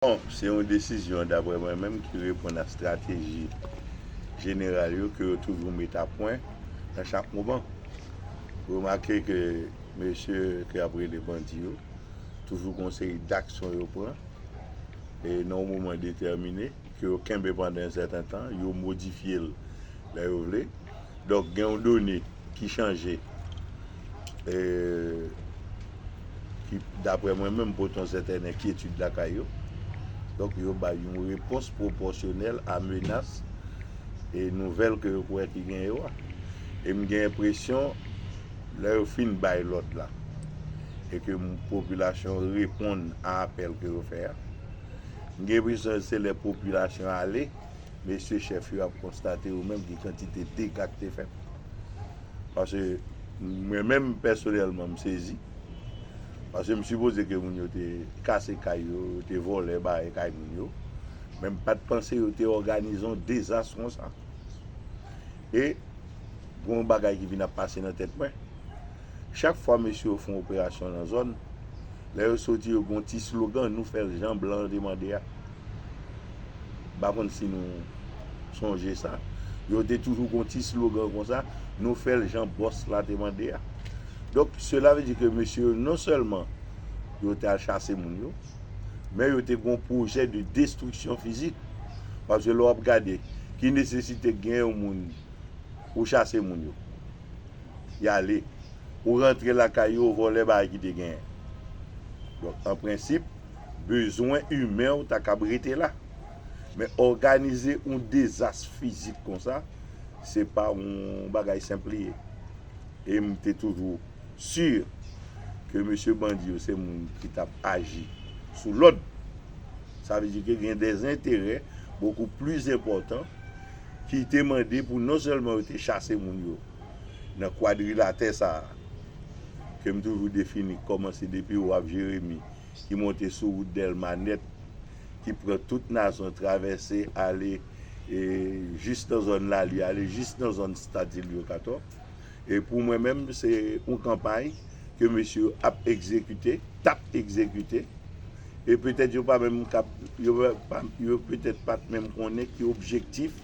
Bon, se yon desizyon, daprè mwen menm, ki reponn a strateji jeneral yo ke yo toujou met a pwen nan chak moman. Remake ke mesye ke y ap rele bandi yo toujou gen yon seri daksyon yo pran e nan yon moman detèmine ke yo kenbe pandan yon sèten tan, yo modifye l lè yo vle. Donk gen yon done. ki chanje e ki daprè mwen menm pot yon sètèn enkyetid lakay yo. Donk yo bay yon repons pwopòsyonèl a menas e nouvèl ke yo kwè ki gen yo a. E m gen enpresyon lè yo fin bay lòd la e ke popilasyon an reponn a apèl ke yo fè a, m gen enpresyon se lè popilasyon ale. Mesye chèf yo ap konstate yo menm ki kantite dega ki te fèt. Pase mwen menm pèsonèlman m sezi. Pase m sipoze ke moun yo te kase kay yo, yo te vòlè bare kay moun yo. Men m pat panse yo te òganize yon dezas konsa. E gen yon bagay ki vin ap pase nan tèt mwen. Chak fwa mesye yo fè yon operasyon nan zòn, lè yo soti yo gen yon ti slogan, nou fè l jan blan an te mande a. M pa konn si nou sonje sa. Yo te toujou gen yon ti slogan konsa, Nou fè l jan bòs la te mande a. Donk, sela ve di ke mesye yo non sèlman yo te al chase moun yo, men yo te gen yon pwojè de destriksyon fizik. Paske lè w ap gade, ki nesesite k gen yon moun ou chase moun yo? Y ale. Ou rantre lakay yo, ou vòlè bagay ki te genyen. Donk, an prensip. bezwen imen w ta kab rete la. Men òganize yon dezas fizik konsa, se pa yon bagay senp li ye. E m te toujou si ke mesye bandi yo se moun ki t ap aji sou lòd. Sa vle di ke gen de enterè bokou pli enpòtan ki te mande pou non sèlman yo te chase moun yo nan kwadrilatè sa a, ke m toujou defini kòmanse depi Waf Jeremi ki monte sou wout Dèlma nèt, ki pran tout Nazon, travèse ale jis nan zòn Lali, ale jis nan zòn Stad Ilyo Katò. E pou mwen menm, se yon kanpay ke mesye yo ap egzekite, t ap egzekite. E petèt yo pa menm kab, yo petèt pa t menm konnen ki objektif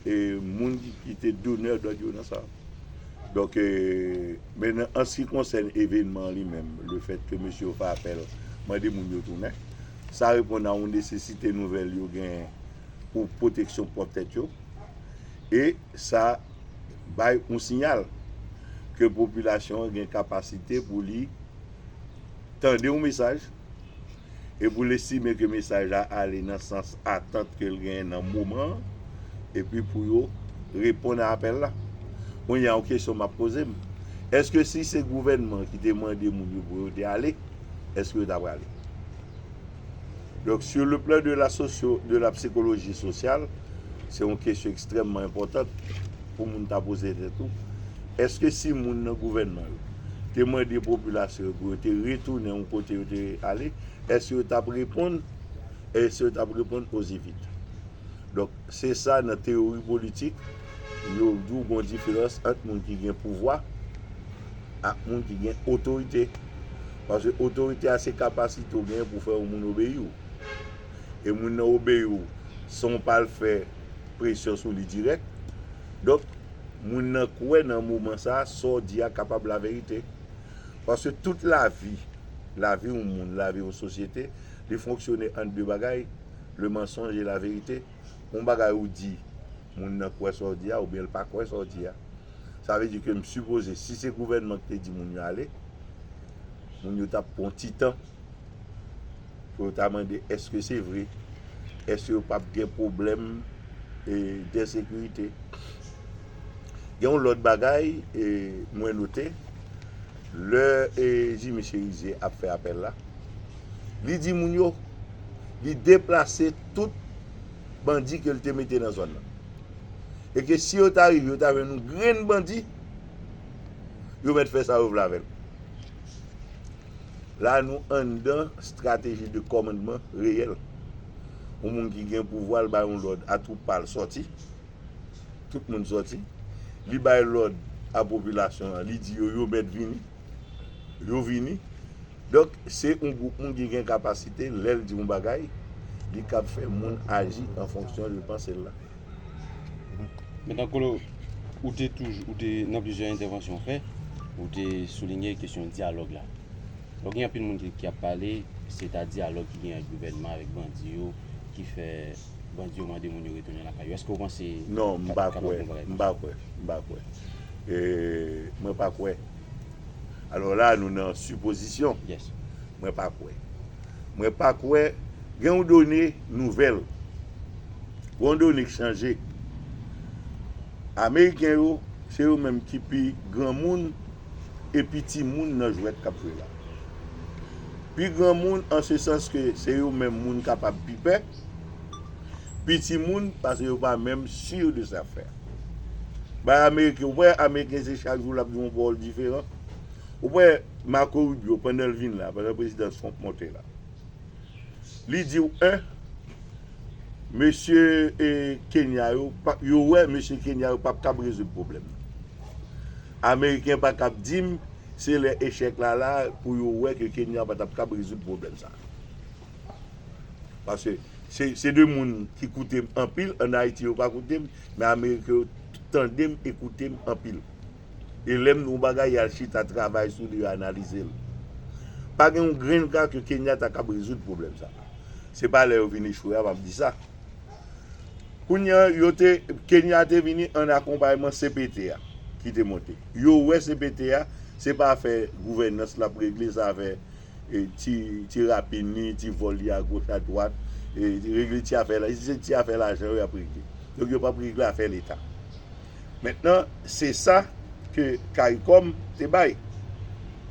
moun ki te donè dòd yo nan sa. Donk, men an si konsèn evenman an li menm, le fèt ke mesye yo fè apèl mande moun yo tounen, sa reponn a yon nesesite nouvèl yo genyen pou pwoteksyon pwòp tèt yo e sa bay yon siyal ke popilasyon an gen kapasite pou li tande yon mesaj, e pou l estime ke mesaj la ale nan sans atant ke l genyen nan moman an, epi pou yo reponn a apèl la. Kounye a yon kesyon m ap poze m, èske si se gouvènman an ki te mande moun yo pou yo te ale, èske yo ta prale? Donk, sur le plan de la socio, de la psychologie sociale, se yon kesyon ekstrèmman enpòtant. pou moun ta poze tèt ou, èske si moun nan gouvènman yo te mande popilasyon yo pou yo te retounen yon kote yo te ale, èske yo t ap reponn? Èske yo t ap reponn ozi vit? Donk, se sa nan teyori politik, yo di w gon diferans ant moun ki gen pouvwa ak moun ki gen otorite. Paske otorite a se kapasite ou genyen pou fè yon moun obeyi w. E moun nan obeyi w san w pa al fè. presyon sou li dirèk. Donk, moun nan kwè nan moman sa a, sa w di a kapab laverite. Paske tout lavi, lavi yon moun, lavi yon sosyete, li fonksyone an de bagay, le mensonge et la vérité. Yon bagay ou di, moun nan kwè sa w di a oubyen l pa kwè sa w di a. Sa vle di ke m sipoze, si se gouvènman ki te di moun yo ale, moun yo t ap pran yon ti tan. pou yo ta mande eske se vre, eske yo pap gen pwoblèm densekirite. Gen yon lòt bagay mwen note, lè Jimmy Cherizier ap fè apèl la, li di moun yo, li deplase tout bandi ke li te mete nan zòn nan. E ke si yo ta rive, yo ta jwenn yon grenn bandi, yo mèt fè sa yo vle avè l. La a nou anndan strateji de kòmandman reyèl. Yon moun ki gen pouvwa l bay yon lòd a twoup pa l sòti. Tout moun sòti. Li bay lòd a popilasyon an, li di yo yo mèt vini. Yo vini. Donk se yon gwoup moun ki gen kapasite lè l di yon bagay li kab fè moun aji an fonksyon de panse l la. Metan Colo, ou te toujou, ou te nan plizyè entèvansyon ou fè, ou te soulinye kesyon dyalòg la. Lò gen anpil moun ki ap pale, se ta dyalòg ki gen ak gouvènman, avèk bandi yo, ki fè bandi yo mande moun yo retounen lakay yo. Èske ou panse sa ta kapab yon bagay konsa? Non, m pa kwè, m pa kwè, m pa kwè. Mwen pa kwè. Alò la, nou nan sipozisyon. Yes. Mwen pa kwè. Mwen pa kwè gen yon done nouvèl, gen yon done k chanje. Ameriken yo, se yo menm ki pi granmoun e pi timoun nan jwèt k ap jwe la. Pi granmoun an se sans ke se yo menm moun kapab pi pè, pi timoun paske yo pa menm sur de zafè. Bay Ameriken, ou pa wè Ameriken se chak jou l ap di yon pawòl diferan? Ou wè Marco Rubio pandan l vin la, pandan prezidan Trump monte la. Li di w 1 mesye Kenya yo, yo wè mesye Kenya yo pap kab rezoud pwoblèm nan. Ameriken pa kab di m se lè echèk la la pou yo wè ke Kenya pa tap kab rezoud pwoblèm sa. Paske se 2 moun ki koute m anpil, an Ayiti yo pa koute m, men Ameriken yo tande m e koute m anpil. e lè m di yon bagay yal chita travay sou li yo analize l. Pa gen yon grenn ka ke Kenya ta kab rezoud pwoblèm sa. Se pa lè yo vin echwe a map di sa. Kounye an yo te, Kenya te vini an akonpayman cpt a ki te monte. Yo wè cpt a se pa afè gouvènans lap regle se afè ti rapin li, ti vòl li a goch a dwat, regle ti afè, se ti afè lajan yo yap regle. Donk yo pap regle afè leta. Mentnan se sa ke caricom te bay.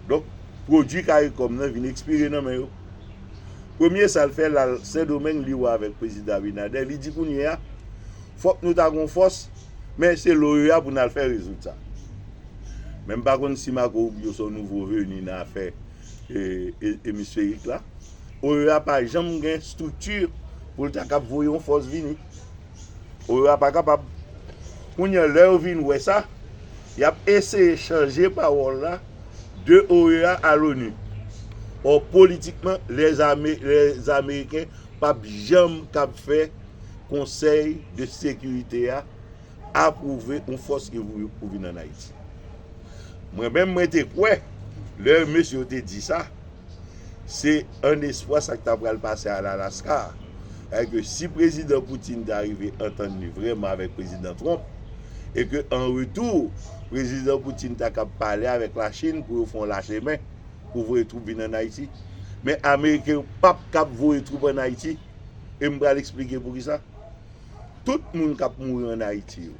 Donk pwodwi caricom nan vin ekspire nan men yo. Premye sa l fè l al sendomeng li wè avèk prezidan abinader li di kounye a fòk nou ta gon fòs men se l oea pou n al fè rezoud sa. Men m pa konn si marco rubio se yon nouvo veni nan afè emisferik la. Oea pa janm gen strikti pou l ta kab voye yon fòs vini. Ou yo a pa kapab. Kounye a, lè yo vin wè sa, y ap eseye chanje pawòl la de OEA a l'ONU. Ò, politikman, lè Ameriken p ap janm kab fè Konsèy de Sekirite a apwouve yon fòs ki pou vin ann Ayiti. Mwen menm, mwen te kwè, lè mesye yo te di sa, Se an espwa sa k ta pral pase a Lalaska a. Sètadi ke si Prezidan Putin ta rive antann li vrèman avèk Prezidan Trump, e ke an retou, Prezidan Putin ta kab pale avèk Lachin pou yo fè yon lache men pou voye twoup vin ann Ayiti. Men Ameriken yo p ap kab voye twoup ann Ayiti. E m pral esplike poukisa. Tout moun k ap mouri ann Ayiti yo.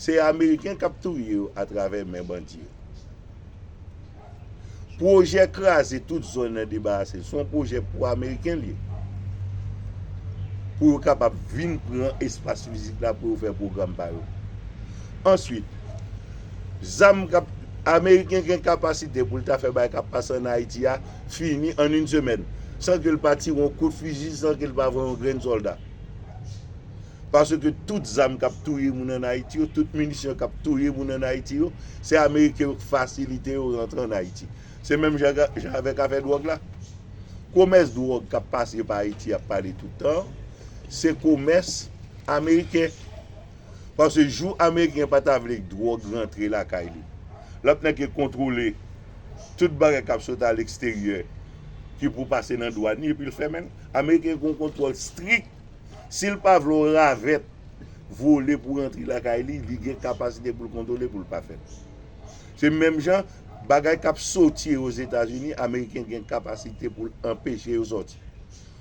Se ameriken kap touye yo atravè men bandi yo. Pwojè kraze tout zòn nan debarase l se yon pwojè pou ameriken li ye. Pou yo kapab vin pran espas fizik la pou yo fè pwogram pa yo. Answit, zam kap, ameriken gen kapasite pou l ta fè bagay kap pase an Ayiti a fini an yn semèn. San ke l pa tire yon kout fizi, san ke l pa voye yon grenn sòlda. Paske tout zam kap touye moun an Ayiti yo, tout minisyon kap touye moun an Ayiti yo, se ameriken yo k fasilite yo rantre an Ayiti. Se menm jan avèk afè dwòg la. Komès dwòg kap pase pa Ayiti yap pale tout tan an, se komès ameriken. Paske jou ameriken pa ta vle k dwòg rantre lakay li, lap nèke kontwole tout bagay kap sot a leksteryè ki pou pase nan dwàn li epi l fèmen l. Ameriken gen yon kontwòl strik. Sil pa vle yon ravèt vole pou rantre lakay li, li gen kapasite poul kontwole poul pa fèl. Se menm jan bagay kap soti yo ozetazini ameriken gen kapasite poul anpeche yo soti.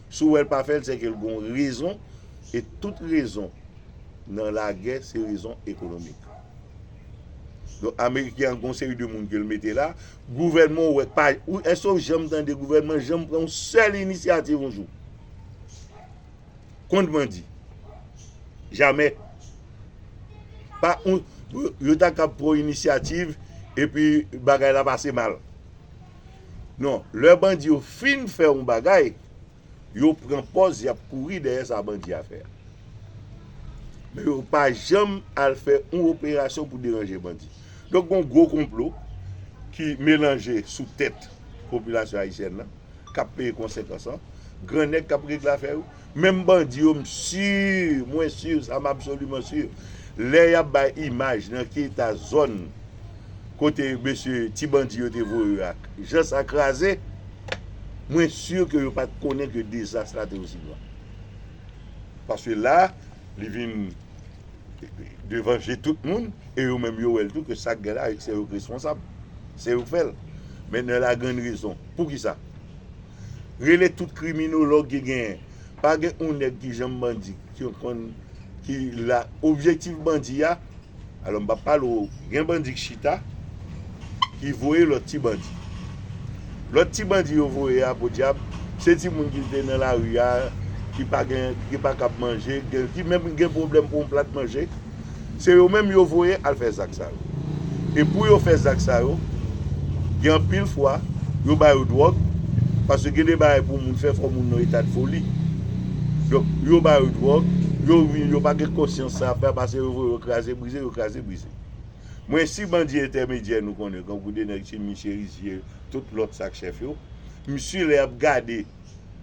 Si w wèl pa fèl se ke l gon rezon e tout rezon nan lagè se rezon ekonomik. Donk ameriken an gon seri de moun kel mete la, gouvènman w wè pa, eske w janm tande gouvènman janm pran yon sèl inisyativ yon jou? Konn bandi. Jamè. Pa on yo ta kab pran inisyativ epi bagay la pase mal. Non, lè bandi yo fin fè on bagay, yo pran pòz y ap kouri dèyè sa bandi a fè a. Men yo pa janm al fè on operasyon pou deranje bandi. Donk gon gwo konplo ki melanje sou tèt popilasyon ayisyèn nan. kap peye konsekans lan, gran nèg kap regle afè yo, menm bandi yo m sur, mwen sur sa m absolument sur lè yap bay imaj nan ki eta zòn kote mesye ti bandi yo te voye yo ak jan sa kraze, mwen sur ke yo pat konnen ke dezas la te osi gran. Paske la li vin devan je tout moun e yo menm yo wèl tou ke sak gen la se yo k responsab, se yo k fèl. Mèt nè la grande raison. Poukisa? Rele tout kriminolog ki genyen. Pa gen yon nèg ki janm bandi, ki konn, ki la, objektif bandi a, alò m pa pale w, gen bandi ki chita, ki voye lòt ti bandi. Lòt ti bandi yo voye a, podyab, se ti moun ki te nan lari a, ki pa gen, ki pa kab manje, ki menm gen pwoblèm pou yon plat manje. Se yo menm yo voye al fè zak sa yo. E pou yo fè zak sa yo, gen anpil fwa, yo ba yo dwòg, paske gen de bagay pou moun fè fò moun nan etad foli. Donk, yo ba yo dwòg, yo vini, yo pa gen konsyans sa y ap fè, pase yo voye yo kraze brize, yo kraze brize. Mwen si bandi entèmedyè nou konnen, tankou de nèg Chimie Cherizier, tout lòt sa k chèf yo, m si lè y ap gade,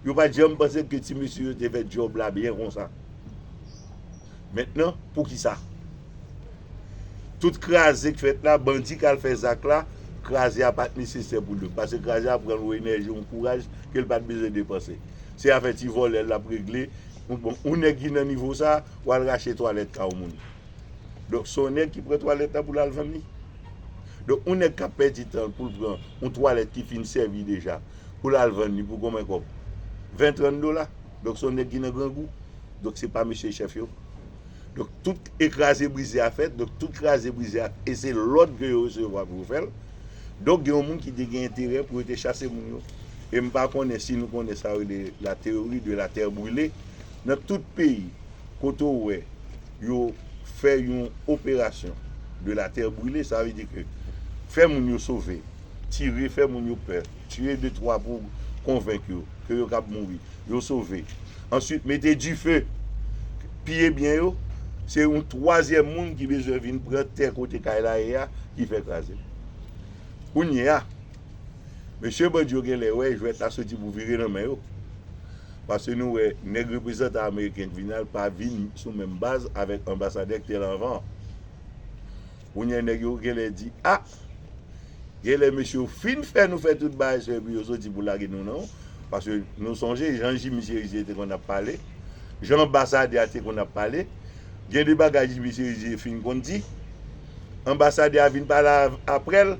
yo pa t janm panse ke ti mesye yo te fè djòb la byen konsa. Mentnan poukisa tout kraze k fèt la bandi k al fè zak la kraze a pat nesesè pou l yo pase kraze a pran yon enèji yon kouraj ke l pat bezwen depanse se afè ti vòlè l ap regle m bon yon nèg ki nan nivo sa w al rache twalèt ka yon moun donk se yon nèg ki pran twalèt la pou l al vann li donk yon nèg k ap pèdi tan l pou l pran yon twalèt ki fin sèvi deja pou l al vann li pou konbyen kòb 20 30 dola donk se yon nèg ki nan grangou. Donk se pa misye chèf yo. Donk tout e kraze brize a fèt, donk tout kraze brize a e se lòd ke yo resevwa pou yo fè l. Donk gen yon moun ki te gen enterè pou yo te chase moun yo. E m pa konnen si nou konnen sa yo rele la theorie de la terre brûlée. Nan tout peyi kote ou wè yo fè yon operasyon de la terre brûlée sa vle di ke fè moun yo sove. tire, fè moun yo pè, tiye de twa pou konvenk yo ke yo kab mouri, yo sove. Answit mete dife, piye byen yo, se yon twazyèm moun ki bezwen vin pran tè kote kay la ye a ki fè kraze l. Kounye a, mesye bandi yo gen lè wè jwèt la soti pou vire nan men yo. Pase nou wè nèg reprezantan ameriken k vin al pa vin sou menm baz avèk anbasadè k te la anvan an. Kounyè nèg yo genlè di ah genlè mesye yo fin fè nou fè tout bagay sa epi yo soti pou lage nou non paske nou sonje jan Jimmy Cherizier te konn ap pale jan anbasadè a te konn ap pale gen de bagay Jimmy Cherizier fin konn di anbasadè a vin pale aprèl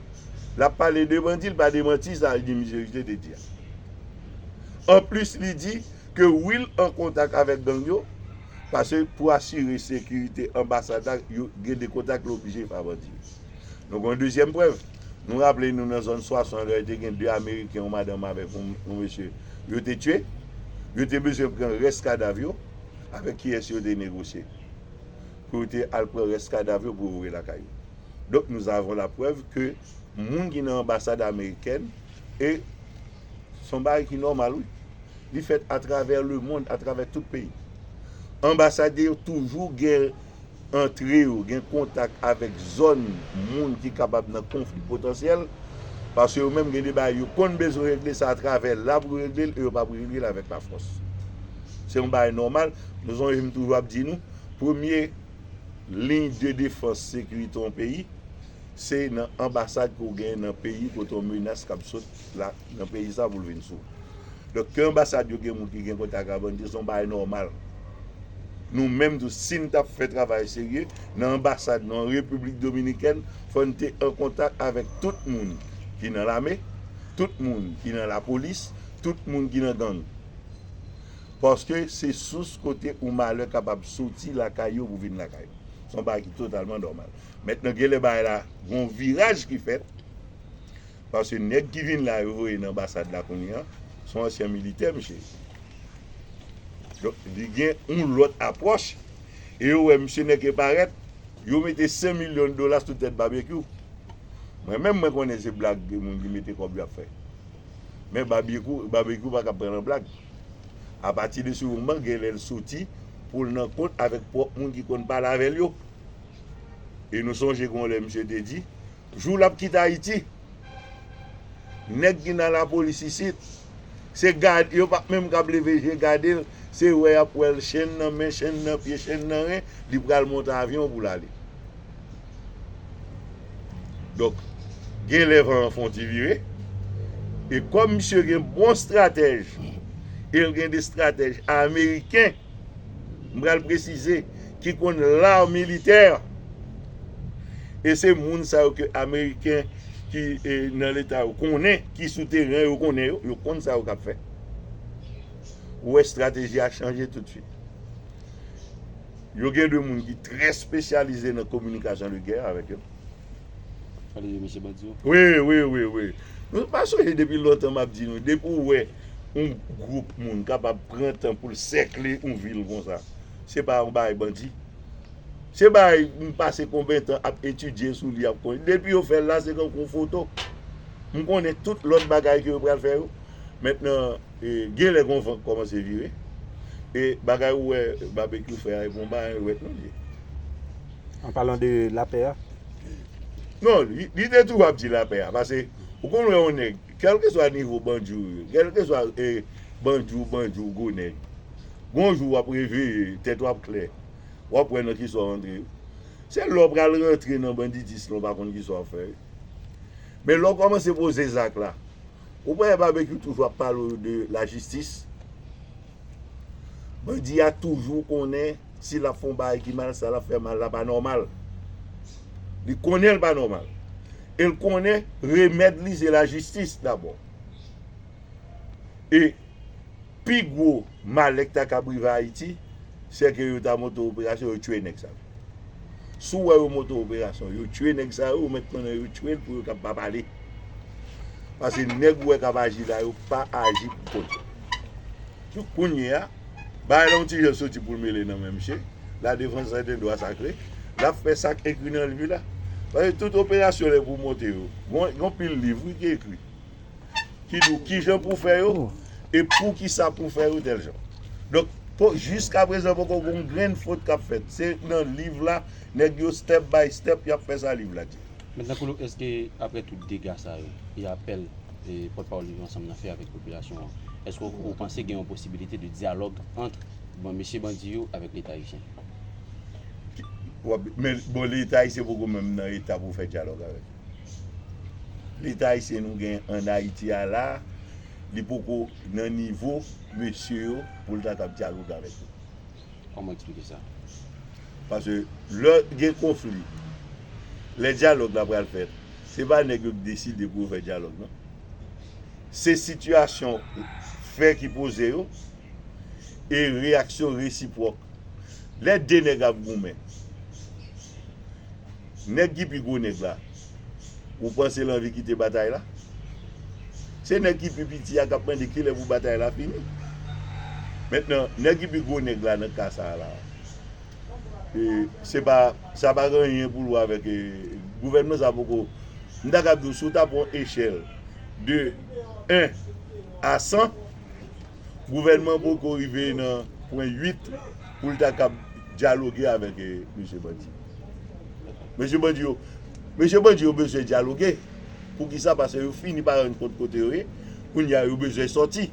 lap pale devan di l pa demanti sa Jimmy Cherizier te di a anplis li di Ke Will an kontak avèk gang yo, pase pou asire sekirite anbasad la yo gen de kontak yo oblije pa bandi yo. Nou gen yon dezyèm prèv, nou raple nou nan zòn Swason an lè te gen 2 ameriken yon madanm avèk yon mesye yo te tye, yo te bezwen pran rès kadav yo, avèk kiyès yo te negosye pou yo te al pran rès kadav yo pou yo voye lakay yo. Donk nou avon la prèv ke moun ki nan anbasad amerikèn. E se yon bagay ki nòmal wi. Li fèt atravè lemonn, atravè tout peyi. Anbasade yo toujou gen antre yo, gen kontak avèk zòn moun ki kapab nan konfli potansyèl, paske yo menm gen de bagay yo konn bezwen regle, se atravè la pou yo regle l e yo pa pou regle l avèk lafòs. Se yon bagay nòmal. Nou sonje m toujou ap di nou, premye liy de defans sekirite yon peyi, se nan anbasad ke w genyen nan peyi kote yon menas kab sot la nan peyi sa pou l vin sou w. Donk ke anbasad yo gen moun ki gen kontak ak bandi se yon bagay nòmal. Nou menm tou si n t ap fè travay serye nan anbasad nou an Repiblik Dominikèn fò n te an kontak avèk tout moun ki nan lame, tout moun ki nan lapolis, tout moun ki nan gang. Paske se sous kote yon malè kapab soti lakay yo pou vin lakay ou. Se yon bagay ki totalman nòmal. Mentnan genlè bagay la gon viraj ki fèt paske nèg ki vin la yo voye nan anbasad la kounye a son ansyen militè misye ye. Donk li gen yon lòt apwòch e yo wè misye nèke parèt yo mete 100 milyon dola sou tèt Babekyou. Mwen menm mwen konnen se blag moun ki mete kòb yo ap fè. Men Babyekou, Babekyou pa kab pran nan blag. Apati de se yon man genlè l soti pou l nan kont avèk pwòp moun ki konn pale avè l yo. E nou sonje gen yon lè misye te di, jou l ap kite Ayiti, nèg ki nan lapolis isit, se gade, yo pa menm kab leve je gade l, se wè y ap wè l chenn nan men, chenn nan pye, chenn nan ren, li pral monte avyon pou l ale. Donk, gen lè van an fè yon ti vire, e kòm misye gen bon estratèj, e l gen de estratèj ameriken, m pral presize ki konn l'art militaire e se moun sa yo ke ameriken ki nan leta yo konnen ki sou teren yo konnen yo, yo konn sa yo kap fè ou wè strateji a chanje tout swit yo gen de moun ki trè spesyalize nan kominikasyon de gè avèk yo. Gade je mesye bandi yo. Wi wi wi wi Nou pa sonje depi lontan map di nou depi ou wè yon group moun kapab pran tan poul sèkle yon vil konsa se pa yon bagay bandi se bagay m pase konben tan ap etidye sou li ap konn depi yo fèl la se tankou yon foto m konnen tout lòt bagay ke yo pral fè yo mètnan Genlè gon van k kòmanse vire e bagay ou wè Babekyou fè a e bon bagay ou wè Knodie. An palan de lapè a. Non, li te toujou ap di lapè a pase ou konn wè yon nèg kèlkeswa nivo bandi ou ye, kèlkeswa bandi ou bandi ou gwo nèg, gon jou w ap reveye, tèt ou ap klè, w ap wè nan ki sa w antre. Se lè w pral rantre nan banditism la w pa konn ki sa w ap fè. Men lè w kòmanse poze zak la, Ou pa wè Barbecue toujou ap pale w de la jistis? Bandi a toujou konnen si l ap fè yon bagay ki mal, sa l ap fè mal la pa nòmal. Li konnen l pa nòmal. E l konnen remèd li se la jistis dabò. E. Pi gwo malè ki ta kab rive Ayiti, sè ke yo ta monte operasyon, yo tchwe nèg sa yo. Si w wè yo monte operasyon, yo tchwe nèg sa yo, ou mèt konnen yo tchwe l pou yo kab pa pale. Pase nèg ou wè kap aji la yo pa aji pou kont yo. Donk kounye a, bagay la yon ti jan soti pou l mele nan men msye, la defans sèten dwa sakre, lap fè sak ekri nan liv li la. Pase tout operasyon lè pou w monte yo, gen yon pil liv wi ki ekri. ki di w ki jan pou w fè yo e poukisa pou w fè yo tèl jan. Donk, jiska prezan poko gen yon grenn fot k ap fèt. Se nan liv la, nèg yo step by step y ap fè sa liv la di. Metnan Colo, èske aprè tout dega sa yo e apèl pòtpawòl Viv Ansanm nan fè avèk popilasyon an, èske ou panse gen yon posibilite de dyalòg ant mesye bandi yo avèk Leta Ayisyen? Bon, Leta Ayisyen poko menm nan eta pou fè dyalòg avèk yo. Leta ayisyen nou gen an Ayiti a la, li poko nan nivo mesye yo pou l ta t ap dyaloge avèk yo. Kòman w eksplike sa? Pase lè gen konfli, lè dyalòg la pral fèt, se pa nèg yo ki deside pou yo fè dyalòg non. Se sitiyasyon, fè ki poze yo e reyaksyon resipwòk. Lè 2 nèg ap goumen. Nèg ki pi gwo nèg la. Ou panse l anvi kite batay la? Se nèg ki pi piti a k ap mande kilè pou batay la fini. Mentnan, nèg ki pi gwo nèg la nan ka sa a la. Se pa, sa pa gen anyen pou l wè avèk gouvènman sa a poko. M ta kab di w si w ta pran yon echèl de 1 a 100. gouvènman poko rive nan pwen 8 pou l ta kab dyaloge avèk mesye bandi yo. Mesye bandi yo, mesye bandi yo bezwen dyaloge, poukisa pase yo fini pa rann kont kote yo ye, kounye a yo bezwen sòti.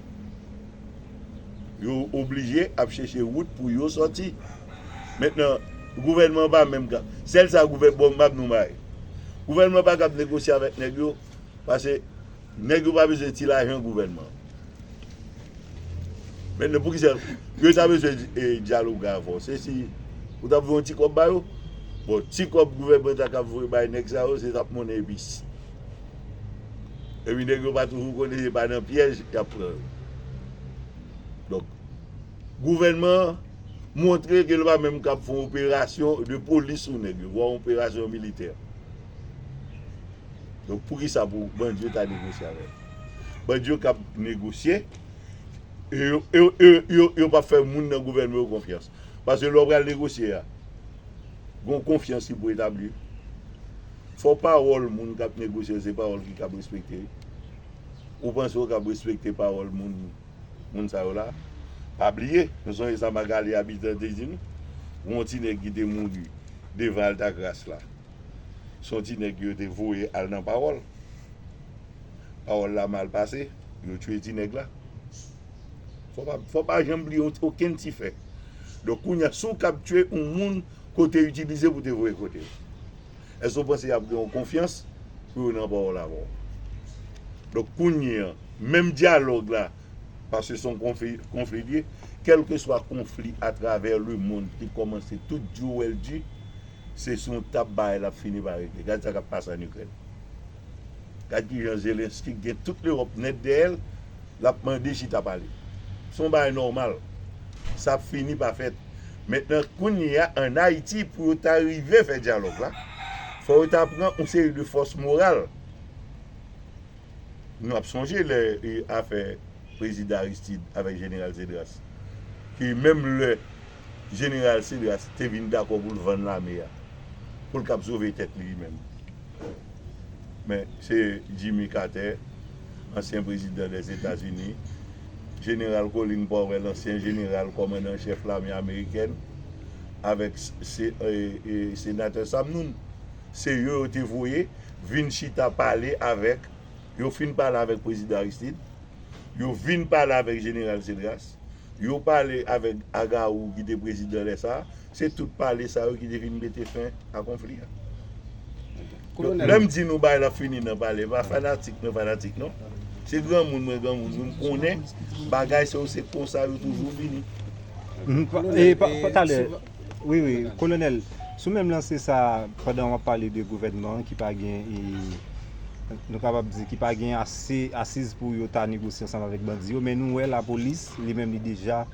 Yo oblije ap chèche wout pou yo sòti. Mentnan, gouvènman an pa menm ka, sèl sa gouvè, bon m ap di w yon bagay, gouvènman pa kab negosye avèk nèg yo pase. Nèg yo pa bezwen ti lajan gouvènman. Men nou poukisa yo ta bezwen dyaloge avè w? Se si ou ta voye yon ti kòb ba yo? Bon, ti kòb gouvènman ta kab voye bay nèg sa yo se tap monnen epis. Epi nèg yo pa toujou konnen se pa nan pyèj y ap pran yo. Donk, gouvènman an montre ke l pa menm kab fè yon operasyon de polis sou nèg yo, vwa yon operasyon militè. Donk poukisa pou bandi yo ta negosye avè l? Bandi yo kab negosye e yo pap fè moun nan gouvènman yo konfyans. Paske lè w pral negosye a, gen yon konfyans ki pou etabli. Fò pawòl moun k ap negosye yo se pawòl ki kab respekte. Ou panse yo kab respekte pawòl moun sa yo la? Pa bliye, nou sonje sa Magalie Habitant te di nou, gen yon ti nèg ki te mouri devan Altagras la. Son ti nèg yo te voye al nan pawòl. Pawòl la mal pase, yo tue ti nèg la. Fò pa janm bliye okenn ti fè. Donk kounye a, si w kab tue yon moun ke w te itilize pou te voye kote yo, èske w panse y ap gen yon konfyans pou yo nan pawòl avè w? Donk kounye a, menm dyalòg la, paske se yon konfli l ye, kèlkeswa konfli atravè lemonn te kòmanse tout di yo wè l di, se sou yon tab bagay lap fini pa regle gad sa kap pase an ikrèn gad kijan zelensky gen tout lewòp nèt dèyèl lap mande chita pale se yon bagay nòmal sa ap fini pa fèt mentnan kounyea an ayiti pou yo ta rive fè dyalòg la fò yo ta pran yon seri de fòs moral nou ap sonje lè afè prezidan aristid avèk jeneral zedras ki menm lè. Jeneral Cedras te vin dakò pou l vann lame a pou l kab sove tèt li li menm. Men, se Jimmy Carter, ansyen prezidan Lèzetazini, Jeneral Colin Powell, ansyen jeneral kòmandan an chèf lame amerikèn, avèk Senatè Sam Nunn, se yo yo te voye vin chita pale avèk Yo fin pale avèk Prezidan Aristide, yo vin pale avèk Jeneral Cedras, yo pale avèk Agaou ki te prezidan lè sa a, se tout pale sa yo ki te vin mete fen a konfli a. Donk lè m di nou bagay la fini nan pale, e pa fanatik mwen fanatik non, se granmoun mwen granmoun wi, m konnen bagay sa yo se konsa yo toujou fini. Talè. Wi wi kolonel sou menm lanse sa pandan wap pale de gouvènman an ki pa gen nou kapab di ki pa gen ase asiz pou yo ta negosye ansanm avèk bandi yo men nou wè lapolis li menm li deja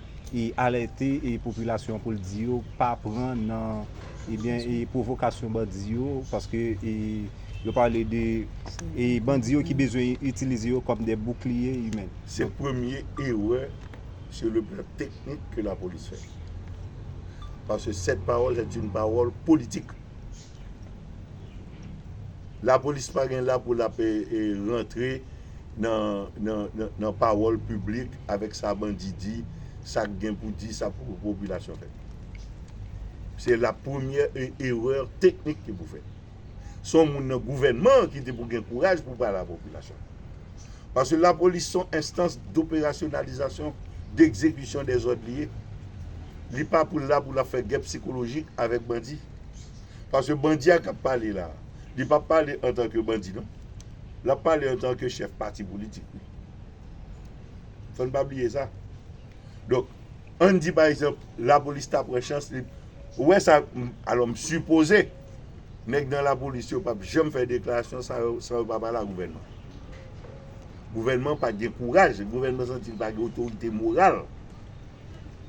alète popilasyon pou l di yo pa pran nan ebyen pwovokasyon bandi yo paske yo pale de bandi yo ki bezwen itilize yo kòm de boukliye imen. Se premye erè sou le plan teknik ke lapolis fè. Parce que cette parole est une parole politique. La police pa gen la pou la pe rentre nan parole public avec sa bandi di, sa k gen pou di, sa pou population fè. Se la première erreur technique ki pou fèt. Se yon moun nan gouvènman an ki te pou gen kouraj pou pale a popilasyon an. Paske lapolis se yon enstans doperasyonalizasyon, degzekisyon dè zòd li ye. Li pa pou l la pou l ap fè gè psikolojik avèk bandi. Paske bandi a k ap pale la a, li pa pale antanke bandi non. L ap pale antanke chèf pati politik li. Fò n pa bliye sa. Donk, an n di pa egzanp lapolis ta pran chans li. Ou wè sa, alò m sipoze. Nèg nan lapolis yo pap janm fè deklarasyon sa yo san yo pa pale ak gouvènman. Gouvènman pa gen kouraj, gouvènman santi li pa gen otorite moral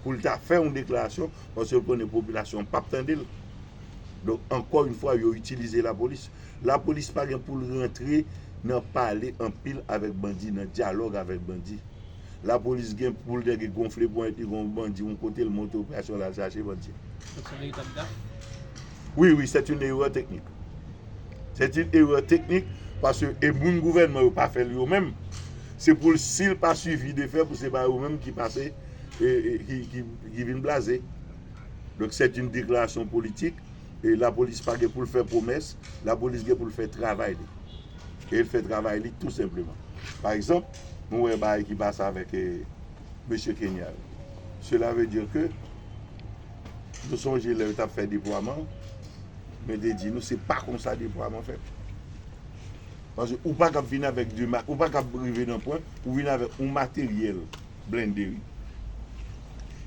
pou l ta fè yon deklarasyon paske l konnen popilasyon an pap tande l. Donk ankò yon fwa yo itilize lapolis. Lapolis pa gen pou l rantre nan pale anpil avèk bandi, nan dyalòg avèk bandi. Lapolis gen poul dège gonfle ponyèt li kon bandi yon kotel monte operasyon lal chache bandi. Sa se yon etap daf? Wi wi c'est une erreur technique. C'est une erreur technique paske e moun gouvènman yo pa fèl yo menm se poul sil pa suivi de fè pou se pa yo menm ki pase ki vin blaze. Donk c'est une déclaration politique e lapolis pa gen poul fè pwomès lapolis gen poul fè travay li e el fè travay li tou senpleman pa egzanp. Nou wè bagay ki pase avèk mesye Kenya yo. Sela ve dir ke nou sonje lè yo tap fè depwaman an, mwen te di nou se pa konsa depwaman fèt. Paske ou pa kab vin avèk de ma, ou pa kab rive nan pwen pou w vin avèk yon materyèl blende wi.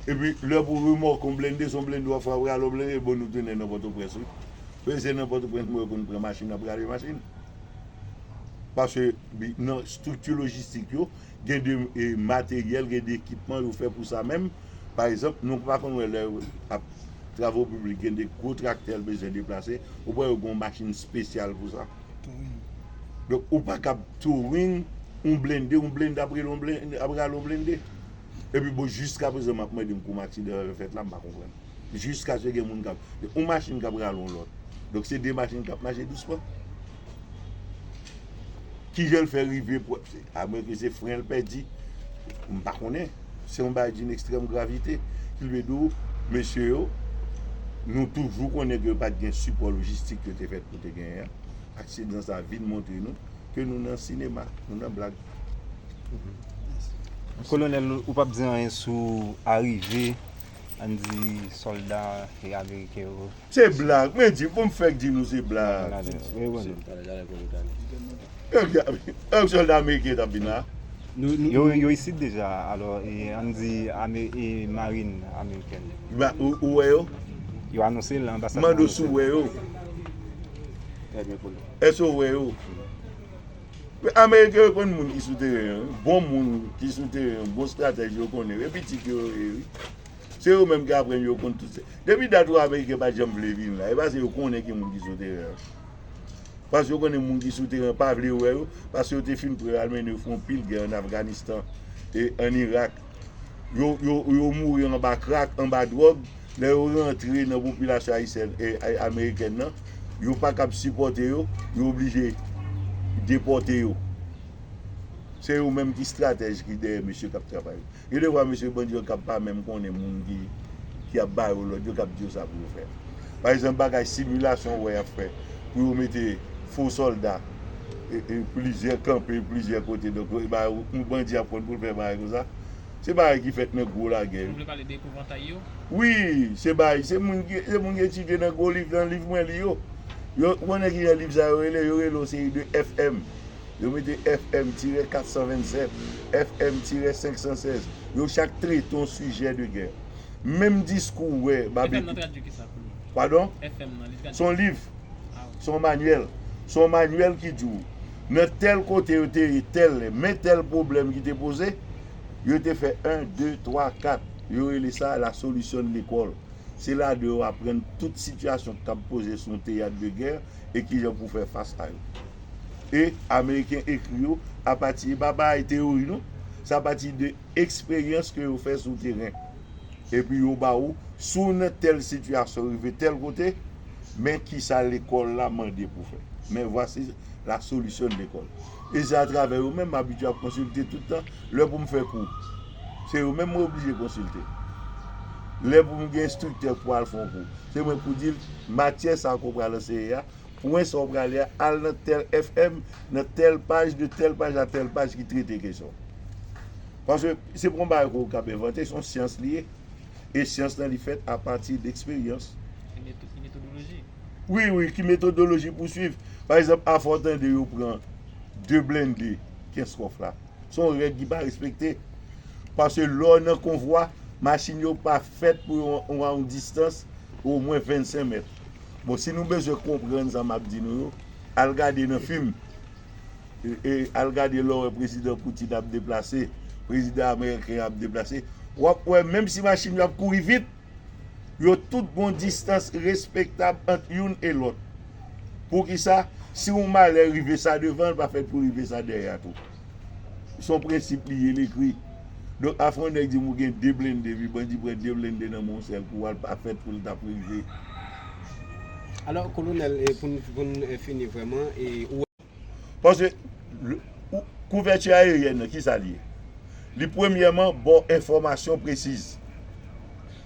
Epi lè pou remòke yon blende, se yon blende wap fè wap rale yon blende, bon nou tounen nan Pòtoprens wi. Paske se nan Pòtoprens mwen yo konn pran machin, ap rale machin. Paske nan estrikti lojistik yo, gen de materyèl, gen de ekipman yo fè pou sa menm. Pa egzanp, nou pa konn wè lè yo ap travo piblik, gen de gwo traktè yo bezwen deplase, ou pa wè yo gen yon machin espesyal pou sa? Donk, ou pa kab touring yon blende, yon blende ap rele yon blende, ap rale yon blende. Epi bon, jiskaprezan m ap mande m konm aksidan sa yo fèt la, m pa konprann. jiskaske gen moun kap, yon machin kap rale yon lòt, donk se 2 machin kap mache dousman. Kijan l fè rive pou, a mwen ke se fren l pèdi, m pa konnen, se yon bagay doun ekstrèm gravite, kilbedo mesye yo, nou toujou konnen ke yo pat gen sipò lojistik yo te fèt pou te genyen an, aksidan sa vin montre nou ke nou nan sinema, nou nan blag. Kolonèl ou pap di anyen sou arive. An di solda e ameriken yo. Se blag, mwen di, pou m fèk di nou se blag. Ew solda ameriken tap vin la? Yo isit deja, alò an di e marin ameriken. Ou wè yo? Yo anonse l lan anbasad. Mande w si w wè yo? Eske w wè yo? Pèp ameriken yo konn moun ki sou teren an wi, bon moun ki sou teren an, bon stratèj yo konnen yo, e pitit yo yo ye wi. Se yo menm ki aprann yo konn tout se. Depi dat ou ameriken pa janm vle vin la, e pase yo konnen ki moun ki sou teren an. Pase yo konnen moun ki sou teren an pa vle wè yo, pase yo te fin pre al mennen yo fè yon pil gè an Afganistan e an Irak. yo mouri anba krak, anba dwòg, lè yo rantre nan popilasyon ayisyèn e amerikèn nan, yo pa kab sipòte yo, yo oblije depòte yo. Se yo menm ki stratèj ki dèyè mesye k ap travay yo. Gen de fwa mesye bandi yo kab pa menm konnen moun ki ap ba yo lòd yo, k ap di yo sa pou yo fè. Pa egzanp bagay similasyon ou wè y ap fè pou yo mete fo sòlda. plizyè kanpe plizyè kote donk yon bandi ap konn pou l fè bagay konsa se bagay ki fèt nan gwo lagè yo. Ou vle pale de epouvantaj yo? Wi, se bagay se moun ki etidye nan gwo liv nan liv mwen li yo yo ou konnen kijan liv sa yo rele yo rele yon seri de FM yo mete FM tirè 427 FM tirè 516 yo chak trete yon sijè de gè menm diskou wè FM nan tradui kisa pou nou? Padon? FM nan li tradui kisa? Son liv. Se yon manyèl. Se yon manyèl ki di w nan tèl kote yo te ye tèl lè, men tèl pwoblèm ki te poze, yo te fè 1, 2, 3, 4. Yo rele sa la solution de l'école. Se ladan yo aprann tout sitiyasyon ki kab poze sou yon teyat de gè e ki jan pou fè fas a yo. E ameriken ekri yo apati, e pa bay teyori non, se apati de eksperyans ke yo fè sou teren. Epi yo ba ou, si w nan tèl sitiyasyon rive tèl kote, men kisa lekòl la mande pou fè. Men vwasi la solisyon de lekòl. E se atravè yo menm m abitye ap konsilte tout tan. Lè pou m fè kou, se yo menm mwen oblije konsilte. Lè pou m gen enstriktè pou al fè yon kou, se mwen pou di l matyè sa ke w pral anseye a, Pwen sa ou prale a, al nan tèl FM, nan tèl paj, de tèl paj a tèl paj ki trete kesyon an. Paske se pa yon bagay ke ou kab envante, se yon syans li ye. E syans lan li fèt a pati de eksperyans. Ki metodoloji? Wi, wi, ki metodoloji pou swiv. Pa egzanp, afè ou tande yo pran de blende Kenskòf la, se yon règ ki pa respekte. Paske lè ou nan konvwa, machin yo pa fèt pou yon distans omwen 25 mèt. Bon si nou bezwen konprann sa map di nou yo, al gade nan fim, al gade lè w wè prezidan Poutine ap deplase, prezidan ameriken an ap deplase, wap wè menm si machin yo ap kouri vit, yo tout gon distans respektab ant youn e lòt. Poukisa? Si yon malè rive sa devan l pa fèt pou rive sa dèyè a tou. son prensip li ye li ekri donk afè yon nèg dim ou gen 2 blende epi bandi pran 2 blende nan men w yon sèl kou al pa fèt pou l tap rive. Alò kolonèl poun poun fini vrèman ou wè. Paske kouvèti ayeryèn nan kisa li ye li premyèman ba w enfòmasyon presiz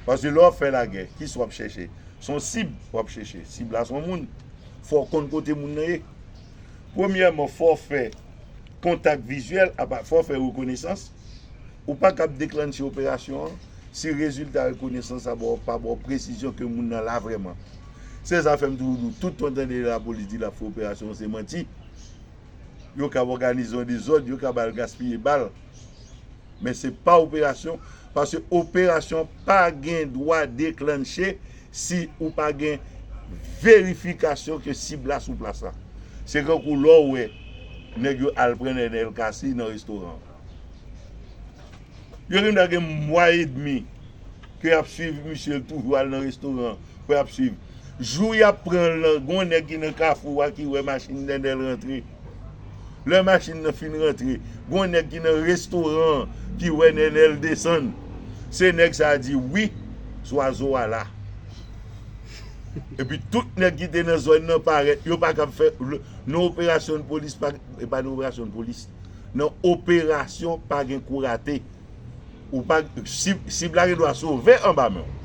paske lè wap fè lagè kisa wap chèche son sib wap chèche sib la son moun fò w konn kote moun nan ye Premyèman, fò w fè kontak vizyèl apa fò w fè rekonesans. Ou pa kab deklannche operasyon an si rezilta rekonesans la ba w pa ba w presizyon ke moun nan la vrèman. Se sa fè m toujou di w tout ton tande lapolis di l ap fè operasyon se manti. Yo kab òganize yon dezòd, yo kab al gaspiye bal. men se pa operasyon paske operasyon pa gen dwa deklanche si ou pa gen verifikasyon ke sib la sou plas la. Se kankou lè w wè nèg yo al pran Nenel Cassy nan restoran an. Yo gen dwa gen mwa edmi ke y ap swiv misye l toujou al nan restoran an Mwen ap swiv. Jou yap pranl lan gon nèg ki nan kafou a ki wè machin Dendel rantre. Lè machin nan fin rantre, gon nèg ki nan restoran an ki wè Nenel desann. Se nèg sa a di wi Zwazo a la. Epi tout nèg ki te nan zòn nan parèt. Yo pa kab fè nan operasyon polis pa gen, e pa nan operasyon polis, nan operasyon pa gen kou rate. Ou pa sib la gen dwa sove anba men w.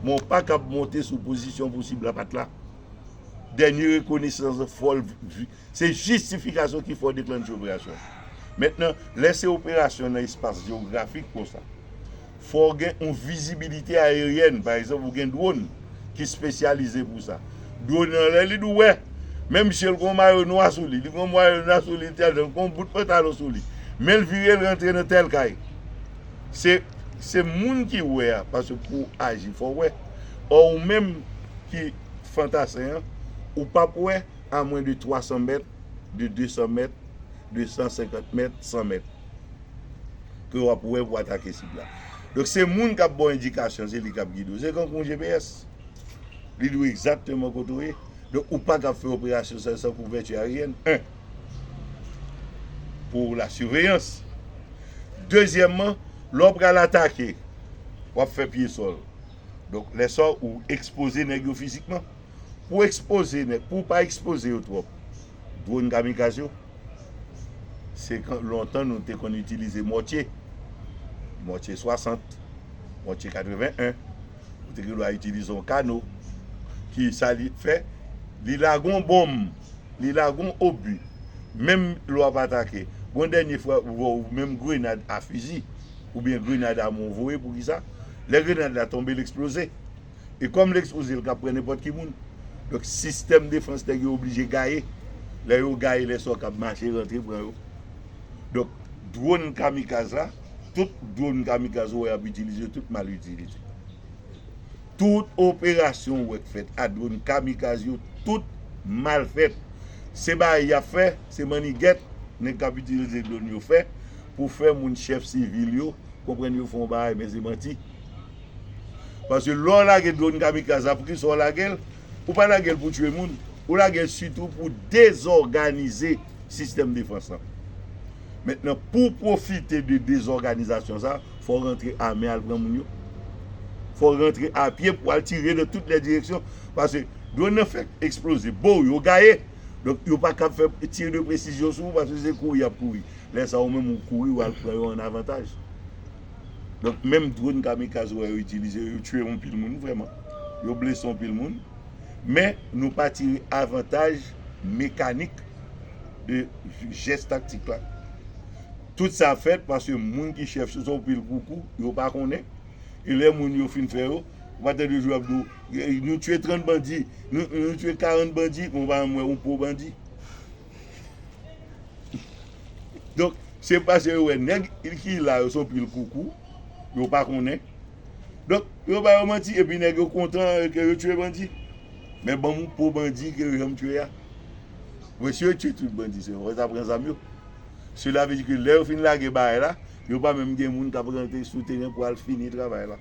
Men ou pa kab monte sou pozisyon pou sib la pat la. Dènye rekonesans lan fò l se jistifikasyon ki fè w deklanche operasyon. Mentnan lè se operasyon nan espas jewografik konsa fò w gen yon vizibilite ayeryèn pa egzanp ou gen dwòn. ki spesyalize pou sa. Dlo nan lè li dou wè. Men misye l gon mayo nwa sou li. Li gon mayo nwa sou li li tèl jan. Li gon bout pantalon sou li. Men l vire l rantre nan tèl kay. Se se moun ki wè a. Paske pou w aji fò w wè. Ò ou menm ki fantasen an. Ou pa p wè a mwen de 300 mèt, de 200 mèt, de 150 mèt, 100 mèt. Ke w ap wè pou w atake sib la. Donk se moun kap baw endikasyon se li kap gide w. Se kankou yon GPS. Li di w egzakteman kote w ye. Donk ou pakab fè operasyon sa yo san kouvèti aryèn 1. Pou la siveyans. Dezyèman, lè w pral atake, wap fè pye sòl. Donk lè sa ou ekspoze nèg yo fizikman. Pou ekspoze nèg, pou w pa ekspoze yo twòp. Dwòn kamikaz yo. se kan lontan nou te konn itilize mòtye. Mòtye 60, mòtye 81, ou te gen dwa itilize yon kano ki sa li fè, li lage yon bonm, li lage yon obi, menm lè w ap atake. Gon dènye fwa ou wè w menm grenad a fizi oubyen grenad a men w voye pou kisa? Lè grenad la tonbe l eksploze. e kòm l ekspoze l kab pran nenpòt ki moun donk sistèm defans nèg yo oblije gaye lè yo gaye lè sa yo kab mache rantre pran yo donk dwòn kamikaz la tout dwòn kamikaz ou wè y ap itilize yo tout mal itilize tout operasyon ou wè k fèt a dwòn kamikaz yo tout mal fèt se bagay y ap fè se mannigèt nèg k ap itilize dwòn yo fè pou fè moun chèf sivil yo konprann yo fè yon bagay men se manti. Paske lè w lage dronn kamikaz la poukisa w lage l? Ou pa lage l pou tye moun, ou lage l sitou pou dezòganize sistèm defans lan. Mentnan pou w pwofite de dezòganizasyon sa, fò w rantre ame al pran moun yo. Fò w rantre apye pou w al tire nan tout lè direksyon. Paske dronn nan fèk eksploze, bo w yo gaye. Donk yo pa kab fè tir de presizyon sou ou paske se kouri y ap kouri. Lè sa ou menm ou kouri ou al pran yo an avantaj. Donk menm dronn kamikaz ou wè yo itilize yo, yo tiye yon pil moun vrèman, yo blese yon pil moun, men nou pa tire avantaj mekanik de jès taktik la. Tout sa fèt paske moun ki chèf se yon pil gwo kou, yo pa konnen, e lè moun yo fin fè yo, ou pa tande jou yo ap di w, nou tiye 30 bandi, nou tiye 40 bandi, men ou pa janm wè yon po bandi. Donk, se paske yo wè nèg ki la yo se yon pil koukou, yo pa konnen. Donk, yo ba yo manti epi nèg yo kontan ke yo tue bandi. Men ban m yon po bandi ke yo janm tue a. Bon, si yo tue tout bandi se yo, yo ta pran zam yo. Sela ve di ke lè yo fin lage baay la, yo pa menm gen moun k ap rantre sou teren pou al fini travay la.